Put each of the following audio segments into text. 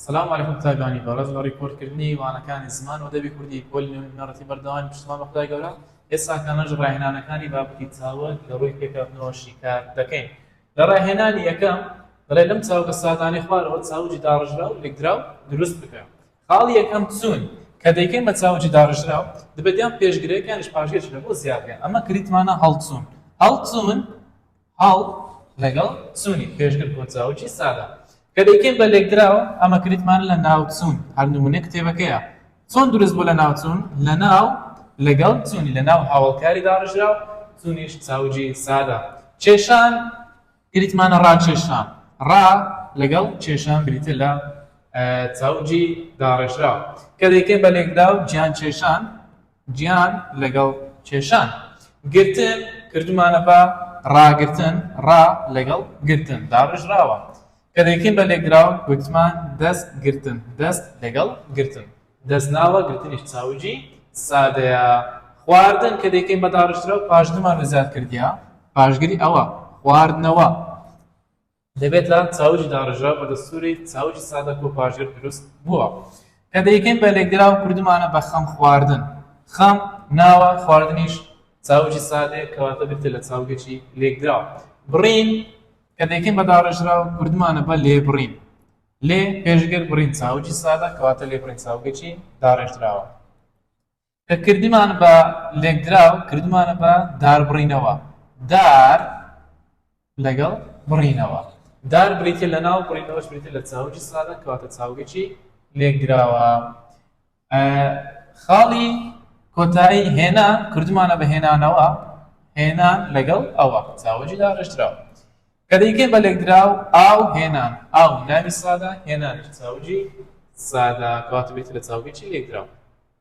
سلام علیکم تاگانی بەڕێز لە ڕیپۆرت کردنی وانەکانی زمان و ئەدەبی کوردی پۆلی نۆ نوێنەڕەتی بەردەوامی پشتمان بە خودای گەورە ئێستا کامەش ڕاهێنانەکانی بابەتی چاوگ لە ڕووی پێکهاتنەوە شیکار دەکەین لە ڕاهێنانی یەکەم دەڵێ لەم چاوگە سادانەی خوارەوە چاوجی داڕژرا و لێکدراو دروست بکە خاڵی یەکەم چوون کە دەیکەین بە چاوجی داڕژرا و دەبێت یان پێشگرێک یانش پاشگەش لە بۆ زیادیان ئەمە کریتمانە هەڵچوون هەڵچوون هەڵ لەگەڵ چوونی پێشگر بۆ چاوگی سادە کە دەیکەین بە لێکدراو ئەمە کریتمان لە ناوچوون هەر نمونەی کتێبەکەیە چۆن دروست بوو لە ناوچوون لە ناو لەگەڵ چوونی لە ناو هاوڵکاری داڕژراو چوونیش چاوگی سادە کێشان کریتمانە ڕاکێشان ڕا لەگەڵ کێشان بریتە لە چاوگی داڕێژراو کە دەیکەین بە لێکدراو جیان کێشان گیان لەگەڵ کێشان گرتن کردومانە بە ڕاگرتن، ڕا لەگەڵ گرتن داڕێژراوە، کە دەیکەین بە لێکدراو گوتمان دەست گرتن، دەست لەگەڵ گرتن دەستناوە، گرتنیش چاوگی سادەیە. خواردن کە دەیکەین بە داڕێژراو پاژنمان و زیادکردیە پاشگری ئەوە، خواردنەوە. دەبێت لە چاوگی داڕێژراو بە دەستووری چاوگی سادە کۆپاژێر دروست بووە کە دەیکەین بە لێکدراو کردوومانە بە خەم خواردن، خەم ناوە، خواردنیش چاوگی سادەیە کەواتە بریتیە لە چاوگێکی لێکدراو. بڕین کە دەیکەین بە داڕێژراو کردوومانە بە لێبڕین، لێ پێشگر بڕین چاوگی سادە کەواتە لێبڕین چاوگێکی داڕێژراوە. کە کردمان بە لێکدراو کردمانە بە داربڕینەوە، دار لەگەڵ بڕینەوە، دار بریتیە لە ناو بڕینەوەش بریتیە لە چاوگی سادە کەواتە چاوگێکی لێکدراوە. خاڵی کۆتایی هێنا کردمانە بە هێنانەوە، هێنان لەگەڵ ئەوە چاوگی داڕێژراوە. کە دەیکەین بە لێکدراو ئاو هێنان ئاو ناوی سادە هێنانیش چاوگی سادە کەواتە بریتیە لە چاوگێکی لێکدراو.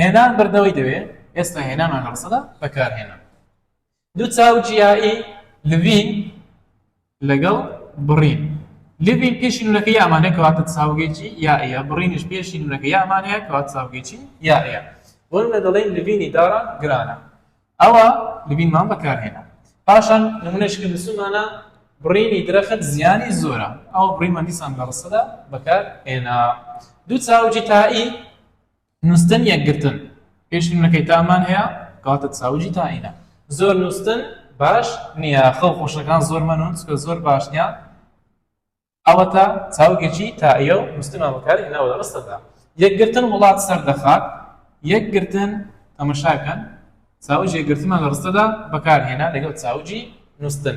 هێنان بردنەوەی دەوێ ئێستا هێنامان لە ڕسەدا بەکارهێنان دوو چاو جیایی لڤین لەگەڵ بڕین لڤین پێشی نونەکە یامانە کەواتە چاوگێکی یاە بڕینش پێشی نونەکە یامانەیە کەوات چاوگێکی یاە بۆن لە دەڵێن لڤینی داران گرانە ئەوە لڤینمان بەکارهێنا پاشان نمونەشکە نسومانە بڕینی درەخت زیانی زۆرە ئەو بڕیمەندیسان لە ڕسەدا بەکار هێنا دوو چاوجی تایی نوستن یەکگرتن پێش فیلمەکەی تامان هەیە کەواتە چاوجی تاینە. زۆر نوستن باش نیە خەو خۆشەکان زۆر مەنون چکە زۆر باش نیە ئەوەتا چاوگێکی تائیە و نوستنمان بەکار هێناوە لە ڕستەدا یەکگرتن وڵات سەر دەخات یەکگرتن تەمەشاکەن چاوجی یەکگرتنمان لە ڕستەدا بەکار هێنا لەگەڵ چاوجی نوستن.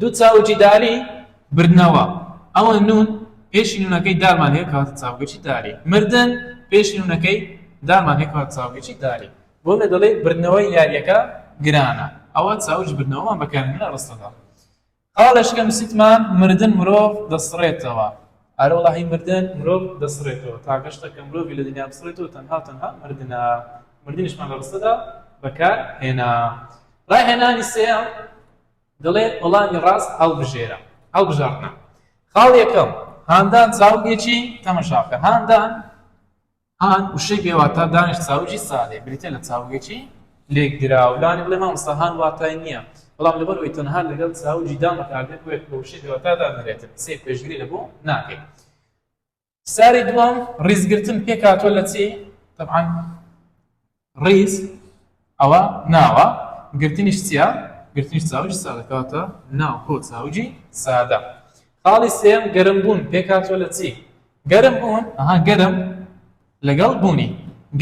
دوو چاوگی داری بردنەوە ئەوە نون پێشی نونەکەی دارمان هەیە کەواتە چاوگەکی داری مردن پێشی نونەکەی دارمان هەیە کەواتە چاوگەکی داری بۆ لە دەڵێ بردنەوەی یاریەکە گرانە ئەوە چاوج بردنەوەمان بەکارمە ڕستەدا قاڵشکە نووسیتمان مردن مرۆڤ دەسڕێتەوە ئارە وەڵاهی مردن مرۆڤ دەسڕێتەوە تاگەشتە کە مرۆڤی لە دنیا بسڕێتەوە تەنها و تەنها مردنە مردنیشمان لە ڕستەدا بەکار هێنا ڕاهێنانی سێیەم دەڵێ وەڵامی ڕاست هەڵبژێرە هەڵبژاردنە خاڵ یەکەم هاندان چاوگێکی تەمەشاکە هاندان هان، وشەی بێ واتا، دانیش چاوگی سادەیە، بریتییە لە چاوگێکی لێکدراو. لانی بڵێ، مامۆستا هان واتای نییە، بەڵام لەبەر ئەوەی تەنها لەگەڵ چاوگی دان بەکار دێت، بۆیە بە وشەی بێ واتا دادەنرێت. سەیر، پێشگری لە بۆ ناکەین. فشاری دووەم، ڕیزگرتن، پێکهاتووە لە چی؟ تەبعەن. ڕیز، ئەوە ناوە، گرتنیش چییە؟ گرتنیش چاوگی سادە، کەواتە ناو کۆ چاوگی سادە. خاڵی سێیەم، گەرمبوون پێکهاتووە لە چی؟ گەرمبوون، ئەها گەرم لەگەڵ بوونی،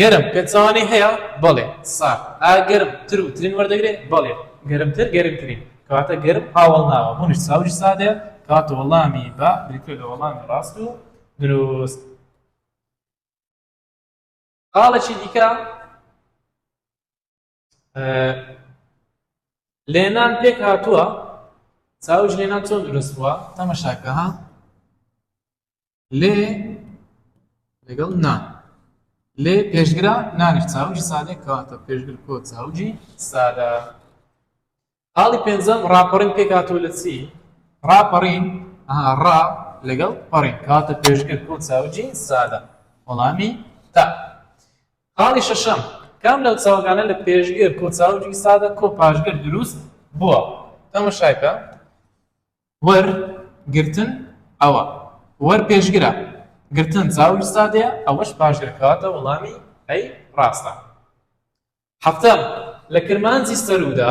گەرم پێچەوانەی هەیە؟ بەڵێ، سارد. ئایا گەرم تر و ترین وەردەگرێ؟ بەڵێ، گەرمتر گەرمترین. کەواتە گەرم هاوەڵناوە، بوونیش چاوگی سادەیە، کەواتە وەڵامی بە بریتییە لە وەڵامی ڕاست و دروست. خاڵێکی دیکە لێنان پێک هاتووە چاوش لێنان چۆن دروست بووە تەمەشاکە ها لێ لەگەڵ نا لێ پێشگرە نانێک چاوجی سادێک کەواتە پێشگر کۆ چاوجی سادە خاڵی پێنجەم ڕاپەڕین پێکاتەوە لە چی ڕاپەڕین ڕا لەگەڵ پەڕین کاتە پێشگەر بۆ چاوجی سادە وەڵامی تا خاڵی شەشەم کام لەو چاوگانە لە پێشگەر کۆ چاوجی سادە کۆ پاشگەر دروست بووە تەمەشایکە وەر گرتن ئەوە وەر پێشگرە گرتن چاوج سادەیە ئەوەش پاشگرکاتە وەڵامی ئەی ڕاستە حەفتەم، لە کرمانجی سەروودا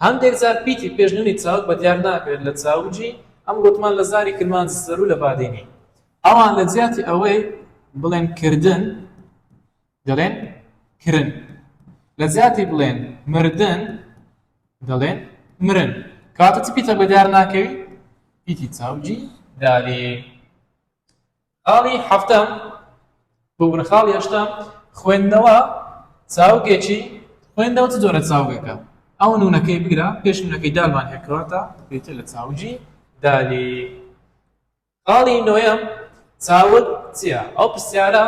هەندێک جار پیتی پێش نوونی چاوگ بە دیار ناکرێت لە چاوگی، ئەم گوتمان لە زاری کرمانجی سەروو لە بادینی. ئەوان لە جیاتی ئەوەی بڵێن کردن دەڵێن کرن، لە جیاتی بڵێن مردن دەڵێن مرن. کەواتە چ پیتە بە دیار ناکەوی؟ پیتی چاوگی داری. خاڵی حەفتەم، ببورن خاڵی هەشتەم، خوێندنەوە چاوگێکی خوێندنەوە چ جۆرە چاوگێکە؟ ئەو نونەکەی بگرە پێش نونەکەی دالمان هێکەوەتە بێتە لە چاوگی دالی. خاڵی نۆیەم، چاوت چییە؟ ئەو پرسیارە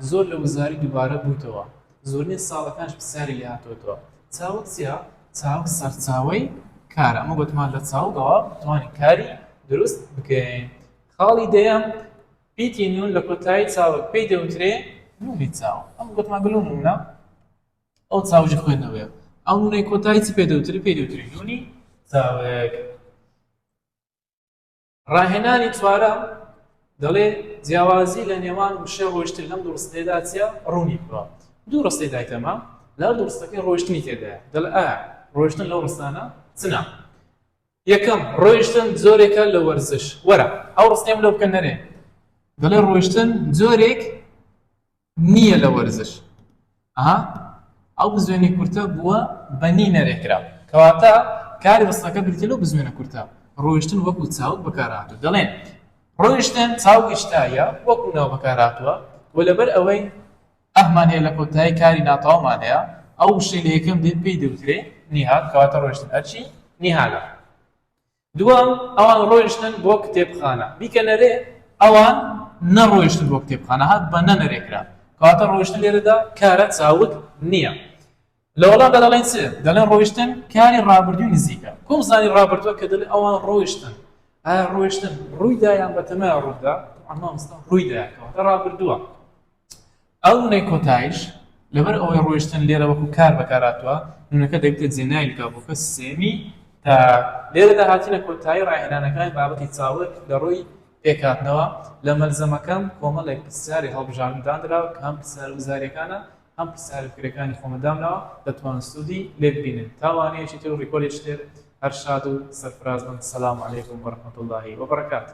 زۆر لە وزاری دووبارە بووتەوە، زۆرین ساڵەکانش پرسیاری لێ هاتووەتەوە، چاوت چییە؟ چاو سەرچاوەی کارە، ئەمە گوتمان لە چاوگەوە توانین کاری دروست بکەین. خاڵی دەیەم، پیتی نوون لە کۆتایی چاوگ پێی دەوترێ نوونی چاو، ئەمە گۆتمان گەلۆ نوونە؟ ئەو چاوگی خوێندنەوەیە. ئەو نوونەی کۆتایی چ پێ دەوترێ؟ پێی دەوترێ نوونی چاوگ. ڕاهێنانی چوارەم دەڵێ جیاوازی لە نێوان وشە ڕۆیشتن لەم دوو ڕستەیەدا چییە؟ ڕوونی بکەوە. دوو ڕستەی دایتەمە، لە هەردوو ڕستەکەی ڕۆیشتنی تێدایە. دەڵێ ئایا ڕۆیشتن لەو ڕستانە چنە؟ یەکەم، ڕۆیشتن جۆرێکە لە وەرزش. وەرە ئەو ڕستەیەم لۆ بکە نەرێ. دەڵێ ڕۆیشتن جۆرێک نییە لە وەرزش. ئەها ئەو بزوێنەی کورتە بووە بە نی نەرێ کرا. کەواتە کاری ڕستەکە بریتییە لەو بزوێنە کورتە. ڕۆیشتن وەکوو چاوگ بەکارهاتووە. دەڵێین ڕۆیشتن چاوگی شتایە وەکوو ناو بەکارهاتووە و لەبەر ئەوەی ئەهمان هەیە لەکۆتایی کاری ناتەواومان هەیە ئەو وشەی لە یەکەم دێت پێی دەوترێ نیهاک کەواتە ڕۆیشتن ئەرچی نیهالە دووەم ئەوان ڕۆیشتن بۆ کتێبخانە بیکە نەرێ ئەوان نەڕۆیشتن بۆ کتێبخانە هات بە نەنەرێکرا کەواتە ڕۆیشتن لێرەدا کارە چاوت نییە لە وەڵامدا دەڵێن چ؟ دەڵێن ڕۆیشتن کاری ڕابردووی نزیکە. کۆم زانی ڕابردووە کە دەڵێ ئەوان ڕۆیشتن. ئایا ڕۆیشتن ڕوویدا یان بەتەمایە ڕوودا؟ تەبعەن مامۆستا ڕوویدایە کەواتە ڕابردووە. ئەو نوونەی کۆتاییش لەبەر ئەوەی ڕۆیشتن لێرە وەکوو کار بەکارهاتووە، نوونەکە دەبیتە جێناوی لکابۆکە سێیەمی تاک. لێرەدا هاتینە کۆتایی ڕاهێنانەکانی بابەتی چاوگ لە ڕووی پێکهاتنەوە. لە مەلزەمەکەم کۆمەڵێک پرسیاری هەڵبژاردن داندراوە کە هەم پرسیارە وزارییەکانە، هەم قسە هەر فکرەکانی خۆمە دامناوە دەتوان سودی لێ ببینن تا وانەیەکی تر و ڕیکۆردێکی تر هەر شاد و سەرفراز بن سلام علیکم و رحمت اللە و برکاته.